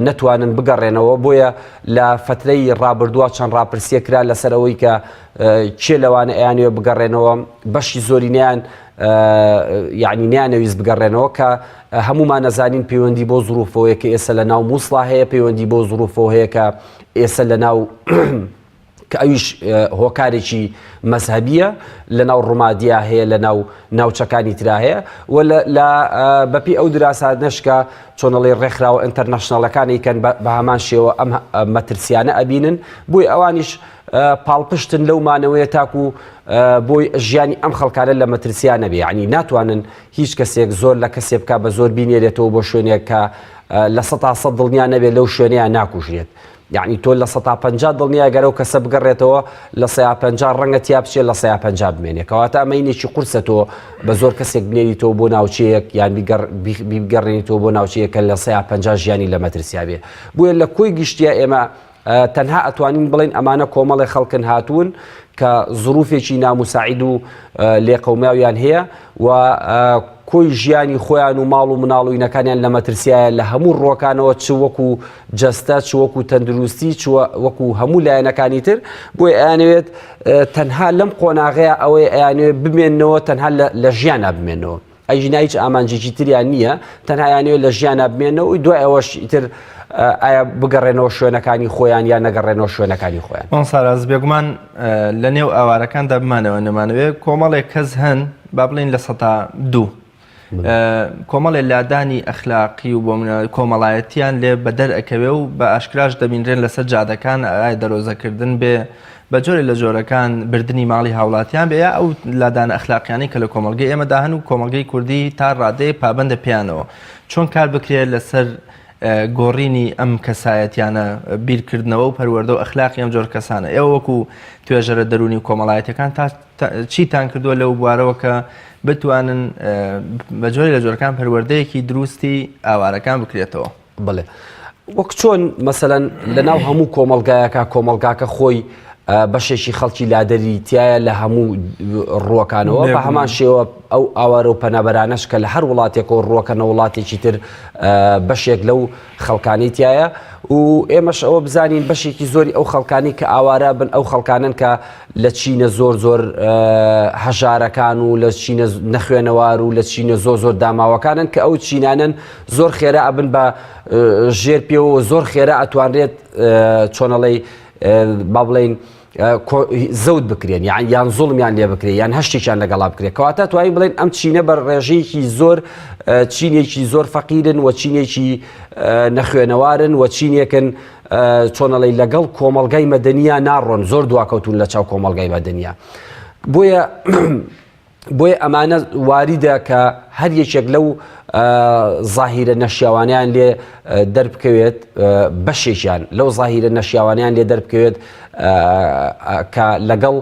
نەتوانن بگەڕێنەوە بۆیە لە فترەی ڕابردووە چەند ڕاپرسیە کرا لەسەر ئەوەی کە کێ لەوانە ئەیانوێ بگەڕێنەوە بەشی زۆرینیان یەعنی نەیانەویست بگەڕێنەوە کە هەمومان ئەزانین پەیوەندی بۆ زروفەوەیە کە ئێستا لە ناو مووسڵا هەیە پەیوەندی بۆ زروفەوە هەیە کە ئێستا لە ناو کە ئەویش هۆکارێکی مەذهبیە لە ناو ڕومادیا هەیە لە ناو ناوچەکانی ترا هەیە و لە بەپی ئەو دراسات نشکە چۆنەڵی ڕێکخراوە ئەتەرنەشنەڵەکانی کەن بە هەمان شێوە ئەم مەترسیانە ئەبینن بۆی ئەوانیش پاڵپشتن لەو مانەوەیە تاکو بۆ ژیانی ئەم خەڵکانە لە مەترسیان نەبێ ینی ناتوانن هیچ کەسێک زۆر لە کەسێ بک بە زۆر بینێرێتەوە بۆ شوێنێک کە لە سە تا سە دڵنیان نەبێت لەو شوێنیان ناکوژرێت یعنی تۆ لە سە تا پ دڵنیا گەرەو کەسە بگەڕێتەوە لە سەیا پ ڕەنگە تیا بچێت لە سەیا پ بمێنێت کەواتە ئەمەینێکی قورسە تۆ بە زۆر کەسێک بنێریتەوە بۆ ناوچەیەک یان بیگەڕێنیتەوە بۆ ناوچەیەکە لە سەیا پ ژیانی لە مەترسیاێ بۆیە لە کۆی گشتیا ئێمە تەنها ئەتوانین بڵێین ئەمانە کۆمەڵێ خەڵکن هاتوون کە زروفێکی ناموساعید و لێقەوماویان هەیە و کۆی ژیانی خۆیان و ماڵ و مناڵ و ینەکانیان لە مەترسیایە لە هەموو ڕۆکانەوە چ وەکو جەستە چ وەکو تەندروستی چ وەکو هەموو لایەنەکانی تر بۆی ئەیانەوێت تەنها لەم قۆناغەیە ئەوەی ئەیانوێت بمێنەوە تەنها لە ژیانە بمێنەوە ئەی ژنە هیچ ئامانجێکی تریان نییە تەنها یانەوێت لە ژیانە بمێنەوە دوای ئەوەش ئیتر ئایا بگەڕێنەوە شوێنەکانی خۆیان یان نەگەڕێنەوە شوێنەکانی خۆیان ئەم ساراز بێگومان لە نێو ئاوارەکاندا بمانەوە نەمانەوێت کۆمەڵێک کەس هەن با بڵین لە سەتا دوو کۆمەڵێ لادانی ئەخلاقی و بۆ کۆمەڵایەتیان لێ بەدەر ئەکەوێ و بە ئاشکراش دەبینرێن لەسەر جادەکان ئای دەرۆزەکردن بێ بە جۆرێ لە جۆرەکان بردنی ماڵی هاوڵاتیان بێ یا ئەو لادانە ئەخلاقیانەی کە لە کۆمەڵگەی ئێمەدا هەن و کۆمەڵگەی کوردی تا ڕادەیەک پابەندە پێیانەوە، چۆن کار بکرێ لەسەر گۆڕینی ئەم کەسایەتیانە، بیرکردنەوە و پەروەردە و ئەخلاقی ئەم جۆر کەسانە؟ ئێوە وەکو توێژەرە دەروونی و کۆمەڵایەتیەکان تا چیتان کردووە لەو بوارەوە کە بتوانن بە جۆرێ لە جۆرەکان پەروەردەیەکی دروستی ئاوارەکان بکرێتەوە؟ بەڵێ وەک چۆن مەسەەن لەناو هەموو کۆمەلگایەکە کۆمەلگاکە خۆی بەشێکی خەڵکی لادەری تایە لە هەموو ڕووەکانەوە بە هەمان شێوە ئەو ئاوارە و پەنابەرانەش کە لە هەر وڵاتێکەوە ڕووەکە نە وڵاتێکی تر بەشێک لەو خەڵکانی تایە و ئێمەش ئەوە بزانین بەشێکی زۆری ئەو خەڵکانی کە ئاوارە بن ئەو خەڵکانن کە لە چینە زۆر زۆر هەژارەکان و لە چینە نەخوێنەوار و لە چینە زۆ زۆر داماوەکانن کە ئەو چینانن زۆر خێرا ئەبن بە ژێر پێوە زۆر خێرا ئەتوانرێت چۆنەڵی با بڵین زەوت بکرێن یان یان زوڵمیان لێ بکرێت یان هەشتێکیان لەگەڵا بکرێت کەواتە توانین بڵێن ئەم چینە بە ڕێژەیەکی زۆر چینێکی زۆر فەقیرن و چینێکی نەخوێنەوارن و چینێکن چۆنەڵی لەگەڵ کۆمەلگای مەدەنیا ناڕۆن زۆر دواکەوتون لە چاو کۆمەلگای مەدەنیا بۆیە بۆیە ئەمانە واریدە کە هەر یەکێک لەو زاهیرە نەشیاوانیان لێ دەربکەوێت بەشێکیان لەو زاهیرە نەشیاوانیان لێ دەربکەوێت کە لەگەڵ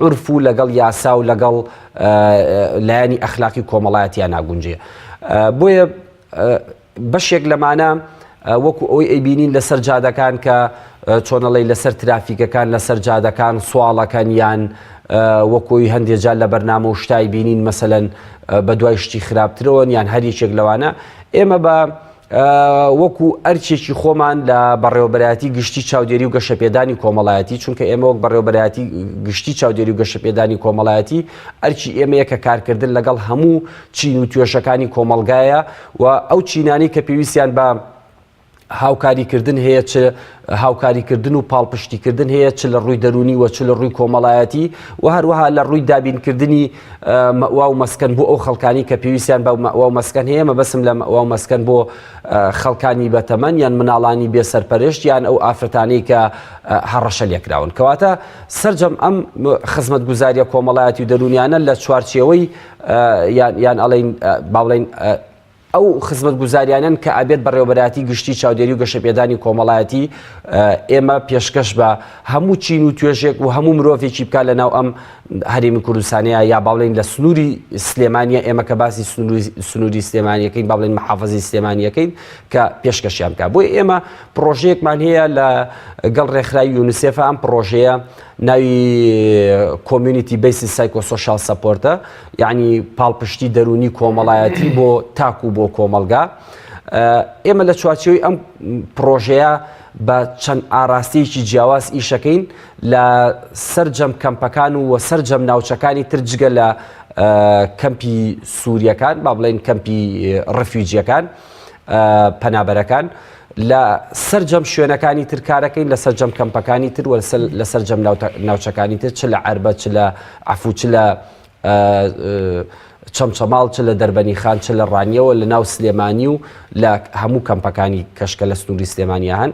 عرف و لەگەڵ یاسا و لەگەڵ لایەنی ئەخلاقی کۆمەڵایەتیان ناگونجێ بۆیە بەشێک لەمانە وەکو ئەوەی ئەیبینین لەسەر جادەکان کە چۆنەڵی لەسەر ترافیکەکان لەسەر جادەکان سواڵەکەن یان وەکۆی هەندێک جار لە بەرنامە و شتای بینین مەسەن بە دوای شتی خراپترەوەن یان هەر یەکێک لەوانە ئێمە بە وەکو ئەرچێکی خۆمان لە بەڕێوەبەتی گشتی چاودێری و گەشەپێدانی کۆمەڵایەتی چونکە ئێمە وەک بەڕێوەبەتی گشتی چاودێری و گەشەپێدانی کۆمەڵایەتی ئەرچی ئێمەیە کە کارکردن لەگەڵ هەموو چین و توێشەکانی کۆمەلگایە و ئەو چینانەی کە پێویستیان بە هاوکاریکردن هەیە چ هاوکاریکردن و پاڵپشتیکردن هەیە چ لە ڕووی دەرونی وە چ لە ڕووی کۆمەڵایەتی و هەروەها لە ڕووی دابینکردنی مەوا و مەسکەن بۆ ئەو خەڵکانی کە پێویستیان بە مەوا و مەسکەن هەیە مەبەسم لە مەوا و مەسکەن بۆ خەڵکانی بەتەمەن یان مناڵانی بێ سەرپەرشت یان ئەو ئافرەتانەی کە هەڕەشە لێکراون کەواتە سرجەم ئەم خزمەت گوزاریە کۆمەڵایەتی و دەرونیانە لە چوارچەوەی یان ئەڵێین با بڵێین ئەو خزمەتگوزاریانەن کە ئەبێت بەڕێوەبەرایەتی گشتی چاودێری و گەشەپێدانی کۆمەڵایەتی ئێمە پێشکەش بە هەموو چین و توێژێک و هەموو مرۆڤێکی بکە لە ناو ئەم هەرێمی کوردستانەیە یا باڵێن لە سنووری سلێمانە ئێمە کە باسی سنووری سلێمانیەکەین باڵێن محافزی سلێمانیەکەین کە پێشکەشیان بکە بۆی ئێمە پرۆژەیەکمان هەیە لە گەڵ ڕێکخراوی یونسێفە ئەم پرۆژەیە ناوی کۆمیونیتی بەیسی سایکۆ سۆشال سەپۆرتە یعنی پاڵپشتی دەرونی کۆمەڵایەتی بۆ تاک و بۆ کۆمەلگا ئێمە لە چوارچەوەی ئەم پرۆژەیە بە چەند ئاراستەیەکی جیاواز ئیشەکەین لە سەررجەم کەمپەکان و وە سەررجەم ناوچەکانی تر جگە لە کەمپی سووریەکان با بڵێن کەمپی ڕفیوجیەکان پەنابەرەکان لە سەرجەم شوێنەکانی تر کارەکەین لە سەرجەم کەمپەکانی تر لە سەرجەم ناوچەکانی تر چ لە عربە چ لە عفو چ لە چەمچەماڵ چ لە دەربەنی خان چ لە ڕانیەوە لە ناو سلێمانی و لە هەموو کەمپەکانی کەشکە لە سنووری سلێمانیا هەن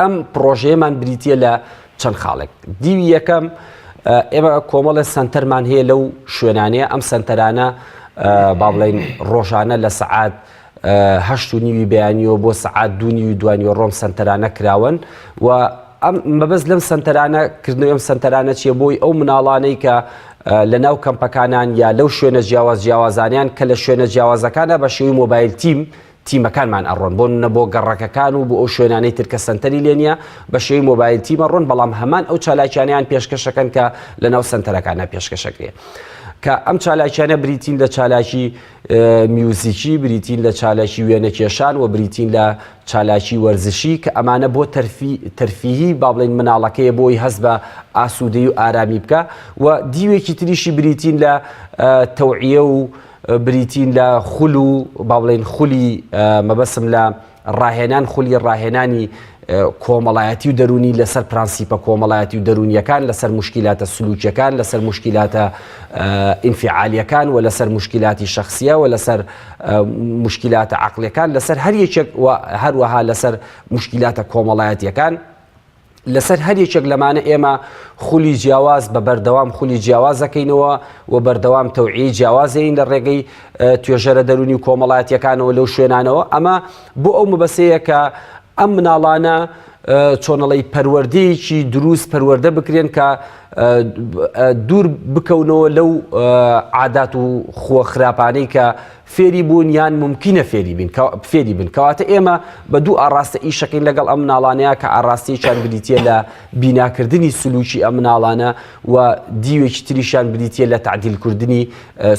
ئەم پڕۆژەیەمان بریتە لە چەند خاڵێک دیوی یەکەم ئێمە کۆمەڵە سنتەرمان هەیە لەو شوێنانەیە ئەم سنتەرانە با بڵین ڕۆژانە لە سعات هەشت و نیوی بەیانیەوە بۆ سعات دوونی و دوانیوە ڕۆم سنتەرانە کراون و ئەم مەبەست لەم سنتەرانە کردنەوە ئەم سنتەرانە چیە بۆی ئەو مناڵانەی کە لە ناو کەمپەکانان یا لەو شوێنە جیاواز جیاوازانیان کە لە شوێنە جیاوازەکانە بە شێوی مۆبایل تیم تیمەکانمان ئەڕۆن بۆ نمونە بۆ گەڕەکەکان و بۆ ئەو شوێنانەی تر کە سەنتەری لێ نییە بە شێوەی مۆبایل تیم ئەڕۆن بەڵام هەمان ئەو چالاکیانەیان پێشکەشەکەن کە لەناو سەنتەرەکانە پێشکەشەکرێ کە ئەم چالاکیانە بریتین لە چالاکی میوزیکی بریتین لە چالاکی وێنەکێشان و بریتین لە چالاکی وەرزشی کە ئەمانە بۆ تەرفیهی با بڵین مناڵەکەیە بۆی هەست بە ئاسوودەی و ئارامی بکە و دیوێکی تریشی بریتین لە تەوعە و بریتین لە خول و با بڵێین خولی مەبەستم لە ڕاهێنان خولی ڕاهێنانی کۆمەڵایەتی و دەرونی لەسەر پرانسیپە کۆمەڵایەتی و دەرونیەکان لەسەر مشکلاتە سلوکیەکان لەسەر مشکلاتە ئینفعالیەکان و لەسەر مشکلاتی شخصیە و لەسەر مشکلاتە عقلەکان لەسەر هەر یەکێک و هەروەها لەسەر مشکلاتە کۆمەڵایەتیەکان لەسەر هەر یەکێک لەمانە ئێمە خولی جیاواز بە بەردەوام خولی جیاوازەکەینەوە و بەردەوام تەوعی جیاوازین لە ڕێگەی توێژەرە دەرونی و کۆمەڵایەتەکانەوە لەو شوێنانەوە ئەمە بۆ ئەو مەبەسەیە کە ئەم مناڵانە چۆنەڵی پەروەردەیەکی دروست پەروەەردە بکرێن کە دوور بکەونەوە لەو عادات و خووە خراپانەی کە فێری بوون یان مومکینە فێری بین فێری بن کەواتە ئێمە بە دوو ئاڕاستە ئیشەکەین لەگەڵ ئەم مناڵانەیە کە ئاراستەیەکیان بریتە لە بیناکردنی سلوکی ئەم مناڵانە و دیوێکی تریشیان بریتە لە تعدیلکردنی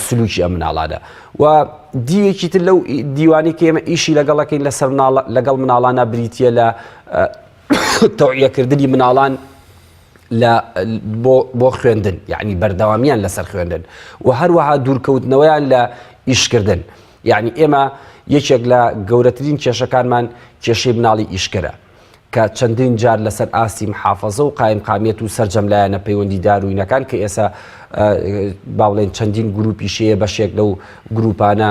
سلوکی ئەم مناڵانە و دیوێکی تر لەو دیوانی کە ئێمە ئیشی لەگەڵەکەین لەسەر لەگەڵ مناڵانە بریتە لە تەوعیەکردنی مناڵان لە بۆ خوێندن یعنی بەردەوامیان لەسەر خوێندن و هەروەها دوورکەوتنەوەیان لە ئیشکردن یعنی ئێمە یەکێک لە گەورەترین کێشەکانمان کێشەی مناڵی ئیشکەرە کە چەندین جار لەسەر ئاستی محافظە و قایم قامیەت و سرجەم لایەنە پەیوەندی داروینەکان کە ئێسا باڵێن چەندین گروپی شەیە بەشێک لەو گروپانە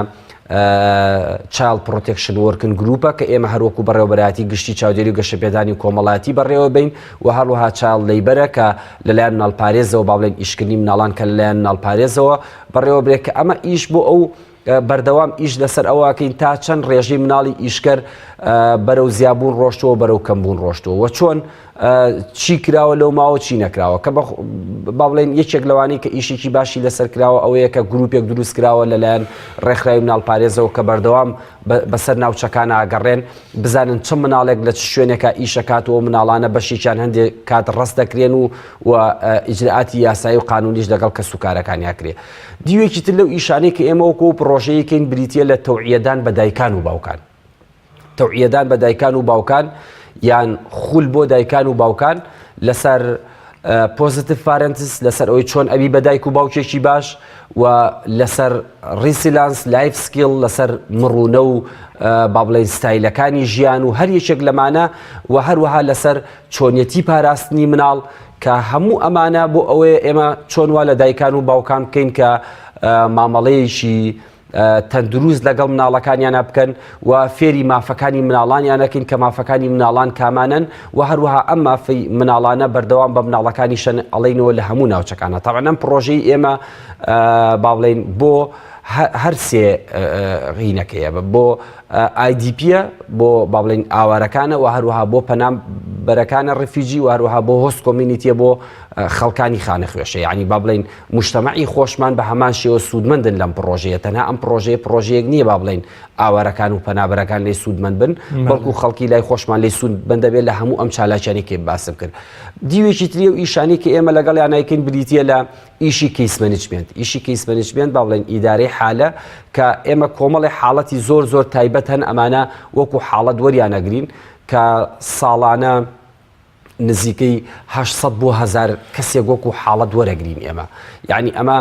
چایڵد پڕۆتێکشن وۆرکن گروپە کە ئێمە هەروەکو بەڕێوەبەرایەتی گشتی چاودێری و گەشەپێدانی کۆمەڵایەتی بەڕێوەبین و هەروەها چایڵد لەیبەرە کە لەلایەن ناڵپارێزەوە با بڵێن ئیشکردنی مناڵان کە لەلایەن ناڵپارێزەوە بەڕێوەبرێت کە ئەمە ئیش بۆ ئەو بەردەوام ئیش لەسەر ئەوەکەین تا چەند ڕێژەی مناڵی ئیشکەر بەرەو زیابوون ڕۆشتووە بەرەو کەمبوون ڕۆشتووە چۆن چی کراوە لەو ماوە چی نەکراوە کە با بڵێن یەکێک لەوانی کە ئیشێکی باشی لەسەر کراوە ئەوەیە کە گروپێک دروست کراوە لەلایەن ڕێکخراوی مناڵ پارێزەوە کە بەردەوام بەسەر ناوچەکان ئاگەڕێن بزانن چ مناڵێک لە چ شوێنێکە ئیشەکاتەوە مناڵانە بەشێکیان هەندێک کات ڕست دەکرێن و و ئیجرعاتی یاسایی و قانونیش لەگەڵ کەس و کارەکانیاکرێ دیوێکی تر لەو ئیشانەی کە ئێمەوەکو پرۆژەیەکەین بریتە لە تەوعیەدان بە دایکان و باوکان تەوعیەدان بە دایکان و باوکان یان خول بۆ دایکان و باوکان لەسەر پۆزیتیف فارنتس لەسەر ئەوی چۆن ئەوی بە دایک و باوکێکی باش و لەسەر ریسیلانس لایف سکیل لەسەر مڕوونە و با بڵێن ستایلەکانی ژیان و هەر یەکێک لەمانە و هەروەها لەسەر چۆنیەتی پاراستنی مناڵ کە هەموو ئەمانە بۆ ئەوەیە ئێمە چۆن وا لە دایکان و باوکان بکەین کە مامەڵەیەکی تەندروست لەگەڵ مناڵەکانیانا بکەن و فێری مافەکانی مناڵانیانەکەین کە مافەکانی مناڵان کامانن و هەروەها ئەم مافی مناڵانە بەردەوام بە مناڵەکانی شەن ئەڵینەوە لە هەموو ناوچەکانە تاوانەم پرۆژەی ئێمە باڵێن بۆ هەر سێ غینەکەیە بۆ ئایدیپە بۆ باڵێن ئاوارەکانە و هەروەها بۆ پەنام بەرەکانە ڕفیجی و هەروەها بۆ هۆست کۆمینیتە بۆ خەڵکانی خانە خوێشە ینی با بڵین موجتەمەعی خۆشمان بە هەمان شێوە سوودمەندن لەم پڕۆژەیە، تەنها ئەم پڕۆژەیە پڕۆژەیەک نییە با بڵێین ئاوارەکان و پەنابەرەکان لێی سوودمەند بن، بەڵکو خەڵکی لای خۆشمان لێی سوودمەند دەبێت لە هەموو ئەم چالاکیانەی کە باسم کرد. دیوێکی تری ئەو ئیشانەی کە ئێمە لەگەڵیان ئەیکەین بریتییە لە ئیشی کەیس مەنجمێنت. ئیشی کەیس مەنجمێنت با بڵێین ئیدارەی حالە کە ئێمە کۆمەڵێ حاڵەتی زۆر زۆر تایبەت هەن ئەمانە وەکو حاڵەت وەریان ئەگرین کە ساڵانە نزیکەی هەشت سەد بۆ هەزار کەسێک وەکو حاڵەت وەرەگرین ئێمە یعنی ئەمە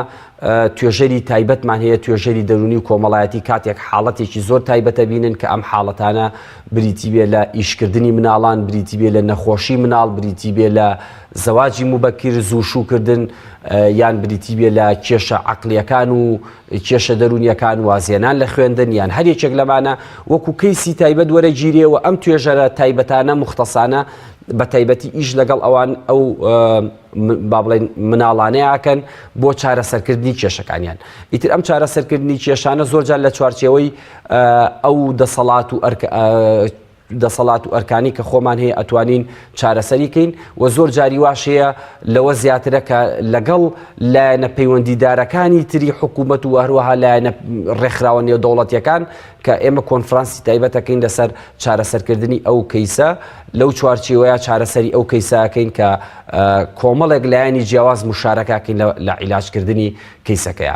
توێژەری تایبەتمان هەیە توێژەری دەرونی و کۆمەڵایەتی کاتێک حاڵەتێکی زۆر تایبەتە بینن کە ئەم حاڵەتانە بریتی بێ لە ئیشکردنی مناڵان بریتی بێ لە نەخۆشی مناڵ بریتی بێ لە زەواجی مبەکیر زوو شوکردن یان بریتی بێ لە کێشە عقلیەکان و کێشە دەروونیەکان، وازهێنان لە خوێندن یان هەر یەکێک لەمانە وەکو کەیسی تایبەت وەرەگیرێ و ئەم توێژەرە تایبەتانە، موختەسانە، بە تایبەتی ئیش لەگەڵ ئەوان ئەو با بڵێین مناڵانەی ئاکەن بۆ چارەسەرکردنی کێشەکانیان. ئیتر ئەم چارەسەرکردنی کێشانە زۆرجار لە چوارچێوەی ئەو دەسەڵات و دەسەڵات و ئەرکانی کە خۆمان هەیە ئەتوانین چارەسەری کەین و زۆر جاری واش هەیە لەوە زیاترە کە لەگەڵ لایەنە پەیوەندیدارەکانی تری حکوومەت و هەروەها لایەنە ڕێکخراوە نێودەوڵەتیەکان کە ئێمە کۆنفرانسی تایبەتەکەین لەسەر چارەسەرکردنی ئەو کەیسە لەو چوارچیوەیە چارەسەری ئەو کەیساکەین کە کۆمەڵێک لایەنی جیاواز مشارەکەکەین لە عیلاجکردنی کەیسەکەیە.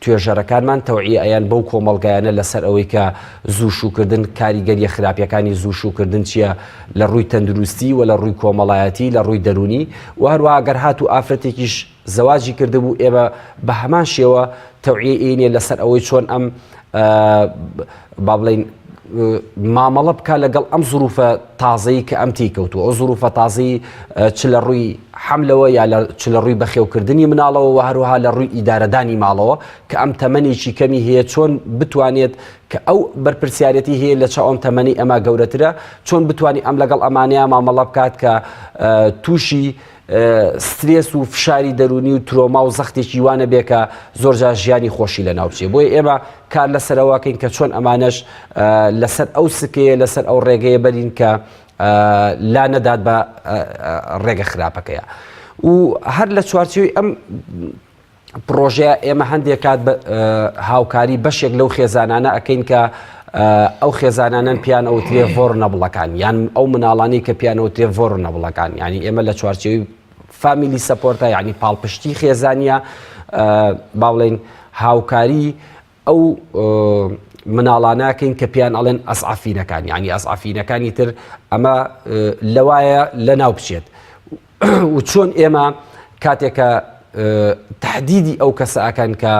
توێژەرەکانمان تەوعیەیان بەو کۆمەڵگایانە لەسەر ئەوەی کە زوو شووکردن کاریگەریە خراپیەکانی زوو شووکردن چییە لە ڕووی تەندروستی و لە ڕووی کۆمەڵایەتی لە ڕووی دەرونی و هەروە گەر هات و ئافرەتێکیش زەواجی کردبوو ئێمە بە هەمان شێوە تەوعیەی ئەینێ لەسەر ئەوەی چۆن ئەم با بڵێین مامەڵە بکە لەگەڵ ئەم زروفە تازەی کە ئەم تیکەوتوە ئەو زروفە تازی چ لە ڕووی حملەوە یا چ لە ڕووی بەخێوکردنی مناڵەوە و هەروها لە ڕووی ئیدارەدانی ماڵەوە کە ئەم تەمەنێکی کەمی هەیە چۆن بتوانێت کە ئەو بەرپرسیارەتی هەیە لە چ ئەم تەمەنی ئەمە گەورەترە چۆن بتانی ئەم لەگەڵ ئەمانەیە مامەڵە بکات کە تووشی سترێس و فشاری دەروونی و ترۆما و زەختێکی وا نەبێ کە زۆرجار ژیانی خۆشی لەناو بچێ بۆیە ئێمە کار لەسەرەوەکەین کە چۆن ئەمانەش لەسەر ئەو سکەیە لەسەر ئەو ڕێگەیە بەرین کە لا نەدات بە ڕێگە خراپەکەیە و هەر لە چوارچێوی ئەم پڕۆژەیە ئێمە هەندێک کات هاوکاری بەشێک لەو خێزانانە ئەکەین کە ئەو خێزانانەن پیان ئەوترێ ڤۆر نەبڵەکان یان ئەو مناڵانی کە پیانەوتێ ڤۆر نەبڵەکان ینی ئێمە لە چوارچەوی فامیلی سەپۆرتە یعنی پاڵپشتی خێزانە با بڵین هاوکاری ئەو مناڵاناکەین کە پێیان ئەڵێن ئەسعفینەکان یعنی ئەسعفینەکانی تر ئەمە لەوایە لە ناو بچێت و چۆن ئێمە کاتێکە تهدیدی ئەو کەسەکەن کە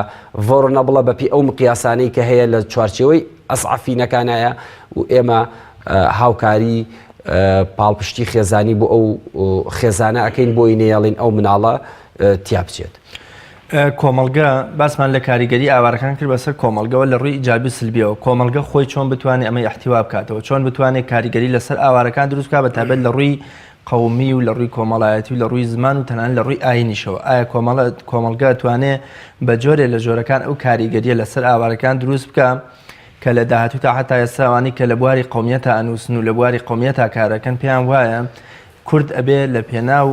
ڤۆرنەبڵە بەپی ئەو مقیاسانەی کە هەیە لە چوارچەوەی ئەسعفینەکانایە و ئێمە هاوکاری پاڵپشتی خێزانی بۆ ئەو خێزانە ئەەکەین بۆی نێڵین ئەو مناڵە تیا بچێت. کۆمەڵگە، باسمان لە کاریگەری ئاوارەکان کرد بەسەر کۆمەڵگەوە لە ڕووی ئیجابی و سلبیەوە، کۆمەڵگە خۆی چۆن بتوانێ ئەمەی ئیحتیوا بکاتەوە، چۆن بتوانێ کاریگەری لەسەر ئاوارەکان دروست بکات بە تایبەت لە ڕووی قەومی و لە ڕووی کۆمەڵایەتی و لە ڕووی زمان و تەنانەت لە ڕووی ئایینیشەوە، ئایا کۆمەڵگە ئەتوانێ بە جۆرێ لە جۆرەکان ئەو کاریگەریە لەسەر ئاوارەکان دروست بکا کە لە داهاتووتا حەتا ئێستا ئەوانەی کە لە بواری قەومیەتا ئەنووسن و لە بواری قەومیەتا کارەکەن پێیان وایە کورد ئەبێ لە پێناو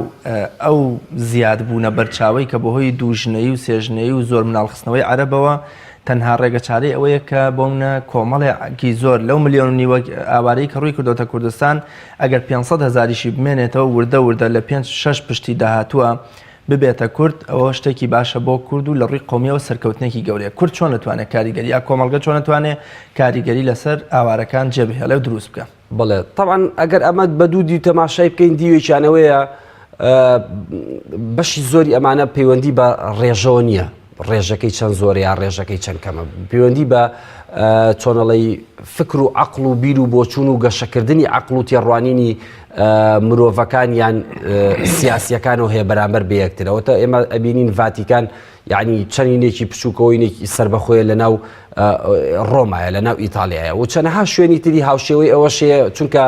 ئەو زیاد بوونە بەرچاوەی کە بەهۆی دوو ژنەیی و سێ ژنەیی و زۆر مناڵ خستنەوەی عەرەبەوە تەنها ڕێگە چارەی ئەوەیە کە بۆمنە کۆمەڵێ کی زۆر لەو ملیۆن و نیوە ئاوارەی کە ڕووی کردۆتە کوردستان ئەگەر پێنج سەد هەزاریشی بمێنێتەوە وردە وردە لە پێنج شەش پشتی داهاتووە ببێتە کورد ئەوە شتێکی باشە بۆ کورد و لە ڕووی قومیەوە سەرکەوتنێکی گەورەیە کورد چۆن نتوانێت کاریگەری یا کۆمەڵگە چۆن نتوانێت کاریگەری لەسەر ئاوارەکان جێبهێڵێ و دروست بکە. بەڵێ تەبعەن ئەگەر ئەمە بە دوو دیو تەماشای بکەین دیوێکیان ئەوەیە بەشی زۆری ئەمانە پەیوەندی بە ڕێژەوە نییە ڕێژەکەی چەند زۆر یا ڕێژەکەی چەند کەمە پەیوەندی بە چۆنەڵی فکر و عقل و بیر و بۆچون و گەشەکردنی عقل و تێڕوانینی مرۆڤەکان یان سیاسیەکان و هەیە بەرامبەر بەیەکترەوە تا ئێمە ئەبینین ڤاتیکان یەعنی چەنینێکی پچووکەوەینێکی سربەخۆیە لە ناو ڕۆمایە لە ناو ئیتالیایە و چەنەها شوێنی تری هاوشێوەی ئەوەشەیە چونکە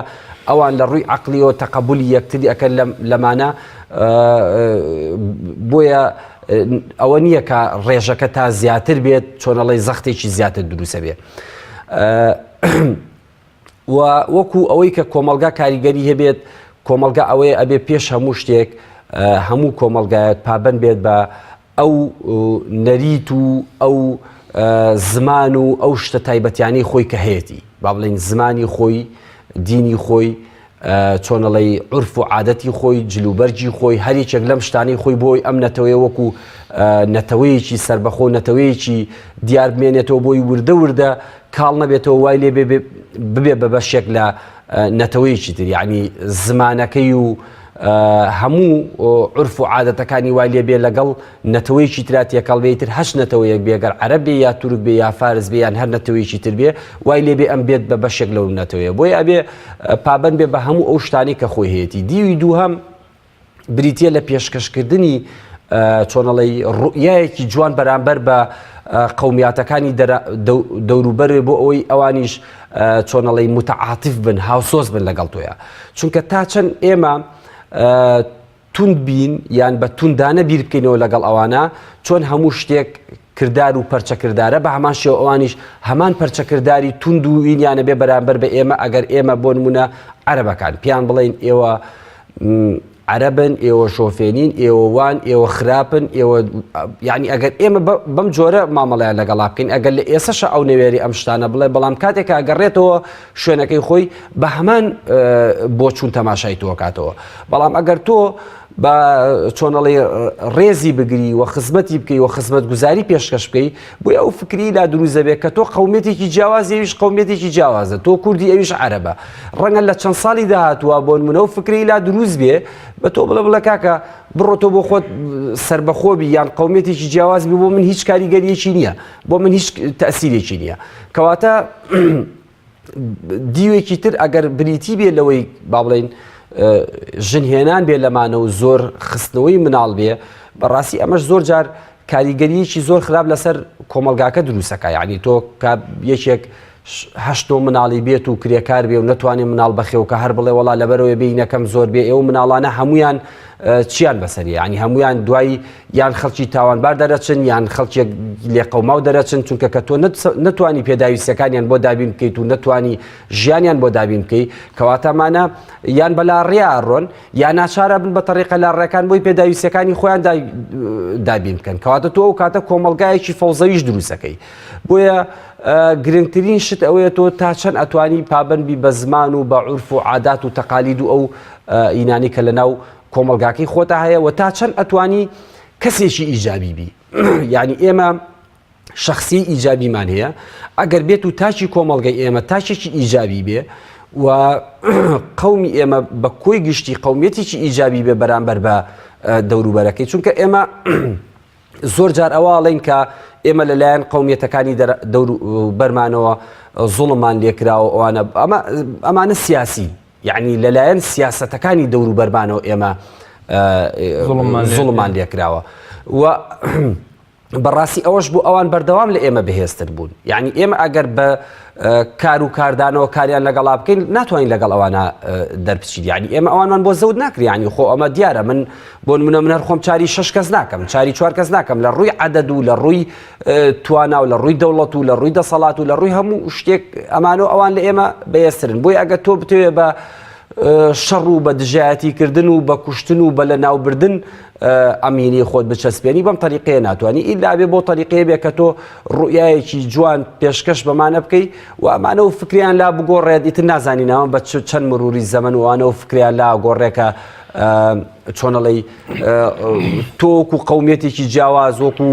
ئەوان لە ڕووی عقلیەوە تەقبولی یەکتری ئەەکە لەمانە بۆیە ئەوە نییە کە ڕێژەکە تا زیاتر بێت چۆنەڵی زەختێکی زیاتر دروسە بێت. و وەکو ئەوەی کە کۆمەلگا کاریگەری هەبێت کۆمەلگا ئەوەیە ئەبێ پێش هەموو شتێک هەموو کۆمەلگایەک پابەن بێت بە ئەو نەریت و ئەو زمان و ئەو شتە تایبەتیانی خۆی کە هەیەی با بڵین زمانی خۆی دینی خۆی چۆنەڵێی عورف و عادەتی خۆی، جل و بەرگی خۆی، هەر یەکێک لەم شتانەی خۆی بۆی ئەم نەتەوەیە وەکو نەتەوەیەکی سەربەخۆ و نەتەوەیەکی دیار بمێنێتەوە بۆی وردە وردە کاڵ نەبێتەوە وای لێ بێ ببێ بە بەشێک لە نەتەوەیەکی تر یعنی زمانەکەی و هەموو عورف و عادەتەکانی وای لێ بێ لەگەڵ نەتەوەیەکی ترا تێکەڵ بێ ئیتر هەچ نەتەوەیەک بێ گەر عەرەب بێ یا تورک بێ یا فارس بێ یان هەر نەتەوەیەکی تر بێ وای لێ بێ ئەم بێت بە بەشێک لەو نەتەوەیە بۆیە ئەبێ پابەند بێ بە هەموو ئەو شتانەی کە خۆی هەیەتی دیوی دووهەم بریتە لە پێشکەشکردنی چۆنەڵی ڕوئایەکی جوان بەرامبەر بە قومیاتەکانی دەوروبەرێ بۆ ئەوەی ئەوانیش چۆنەڵی متعااتیف بن هاوسۆز بن لەگەڵ تۆیە چونکە تا چەند ئێمە توند بین یان بە توندانە بیر بکەینەوە لەگەڵ ئەوانە، چۆن هەموو شتێک کردار و پەرچە کردارە، بە هەمان شێوە ئەوانیش هەمان پەرچە کرداری توند و وینیانە بێ بەرامبەر بە ئێمە، ئەگەر ئێمە بۆ نموونە عەرەبەکان پێیان بڵێین ئێوە عەرەبن، ئێوە شۆفێنین، ئێوە وان، ئێوە خراپن، ئێوە یانی ئەگەر ئێمە بەم جۆرە مامەڵەیان لەگەڵا بکەین، ئەگەر لە ئێسەشە ئەو نەوێری ئەم شتانە بڵێ، بەڵام کاتێکا گەڕێتەوە شوێنەکەی خۆی بە هەمان بۆچوون تەماشای تۆکاتەوە بەڵام ئەگەر تۆ بە چۆنەڵی ڕێزی بگری و خزمەتی بکەی و خزمەت گوزاری پێشکەش بکەی بۆ ئەو فکری لا دروزەبێت کە تۆ قومێتێکی جیاوازیویش قومێتێکی جیاوازە تۆ کوردی ئەویش عربە ڕەنگە لە چەند ساڵی داهاتوە بۆن منە و فکری لا دروست بێ بە تۆ بڵە بڵە کاکە بڕۆ تۆ بۆ خۆت سربەخۆبی یان قومێتێکی جیاواز بۆ من هیچ کاریگەریەکی نییە بۆ من هیچ تاسیرێکی نییە کەواتە دیوێکی تر ئەگەر بریتی بێ لەوەی با بڵین ژنهێنان بێ لەمانە و زۆر خستنەوەی مناڵ بێ بەڕاستی ئەمەش زۆر جار کاریگەریەکی زۆر خراپ لەسەر کۆمەلگاکە دروستەکە یعنی تۆ یەکێک هەشتۆ مناڵی بێت و کرێکار بێ و نتوانێت مناڵ بەخێوکە هەر بڵێ وڵا لەبەرەوەی بینەکەم زۆر بێ ئێوە مناڵانە هەمویان چیان بەسەریە ینی هەمویان دوای یان خەڵکی تاوانبار دەرەچن یان خەڵکێک لێقەوماو دەرەچن چونکە کە تۆ نتوانی پێداویستەکانیان بۆ دابین بکەیت و نتوانی ژیانیان بۆ دابین بکەیت کەواتەمانە یان بەلا ڕیاڕۆن یان ناچارە بن بە تەریقە لا ڕێکان بۆی پێداویستەکانی خۆیان دابین بکەن کەواتە تۆ ئەو کاتە کۆمەلگایەکی فەوزەویش دروستەکەی بۆیە گرنگترین شت ئەوەیە تۆ تا چەند ئەتوانی پابندبی بە زمان و بە عورف و عادات و تەقالید و ئەو ئینانی کە لە ناو کۆمەڵگاکەی خۆتا هەیە و تا چەند ئەتوانی کەسێکی ئیجابی بی یعنی ئێمە شخصی ئیجابیمان هەیە ئەگەر بێت و تاچی کۆمەڵگەی ئێمە تاچێکی ئیجابی بێ و قومی ئێمە بە کۆی گشتی قومیەتێکی ئیجابی بێ بەرامبەر بە دەوروبەرەکەی چونکە ئێمە زۆر جار ئەواڵین کە ئێمە لەلایەن قومیەتەکانی بەرمانەوە زوڵمان لێکراوە ئەوانە ئەمانە سیاسی یەعنی لەلایەن سیاسەتەکانی دەوروبەرمانەوە ئێمە زوڵمان لێکراوە و بەڕاستی ئەوەش بوو ئەوان بەردەوام لە ئێمە بەهێزتر بوون یعنی ئێمە ئەگەر بە کار و کاردانەوە کاریان لەگەڵا بکەین ناتوانین لەگەڵ ئەوانە دەربچیت یعنی ئێمە ئەوانمان بۆ زەوت ناکریانی خۆ ئەمە دیارە من بۆ منە منەر خۆم چاری شش کەس ناکەم چاری چوار کەس ناکەم لە ڕووی عدد و لە ڕووی توانا و لە ڕووی دەوڵەت و لە ڕووی دەسەڵات و لە ڕووی هەموو شتێک ئەمانۆ ئەوان لە ئێمە بەێسرن بۆی ئەگە تۆ بتوێ بە شەڕ و بە دژایەتیکردن و بە کوشتن و بە لە ناوبردن ئەمینی خۆت بچەسپێنی بەم تەریقەیە ناتوانانی ئیدابێ بۆ تەریقەیە بێ کە تۆ ڕوئایەکی جوان پێشکەش بەمانە بکەی و ئەمانە و فکریان لا بگۆڕێت ئیتر نازانینەوە بە چەند مروری زەمن وانە و فکریان لا گۆڕێکە چۆنەڵی تۆ وەکو قومیەتێکی جیاواز وەکو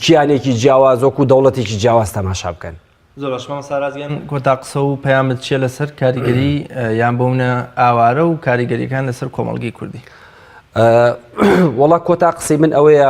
کیانێکی جیاواز وەکو دەوڵەتێکی جیاواز تەماشا بکەن زۆر باشمان سارازیان کۆتا قسە و پەیامت چیە لەسەر کاریگەری یان بۆمنە ئاوارە و کاریگەریەکان لەسەر کۆمەڵگەی کوردی وڵا کۆتا قسەی من ئەوەیە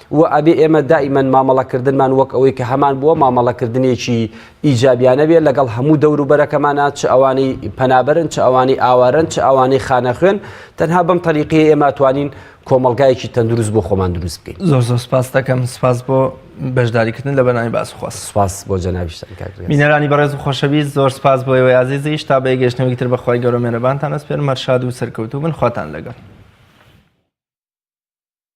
وە ئەبێ ئێمە دائیمەن مامەڵە کردنمان وەک ئەوەی کە هەمان بووە مامەڵە کردنێکی ئیجابیانە بێ لەگەڵ هەموو دەور و بەرەکەمانا چ ئەوانەی پەنابەرن چ ئەوانەی ئاوارەن چ ئەوانەی خانەخوێن تەنها بەم تەریقەیە ئێمە ئەتوانین کۆمەڵگایەکی تەندروست بۆ خۆمان دروست بکەین. زۆر زۆر سپاست دەکەم سپاس بۆ بەشداری کردن لە بەرنامی باس خواست. سپاس بۆ جەنابیشتان کاک ریاز. بینەرانی بەڕێز و خۆشەویست زۆر سپاس بۆ ئێوەی ئازیزیش تا بە یەکگەشتنەوەی تر بە خوای گەورە مێرەبانتان ئەسپێرم هەر شاد و سەرکەوتوو بن خواتان لەگەڵ.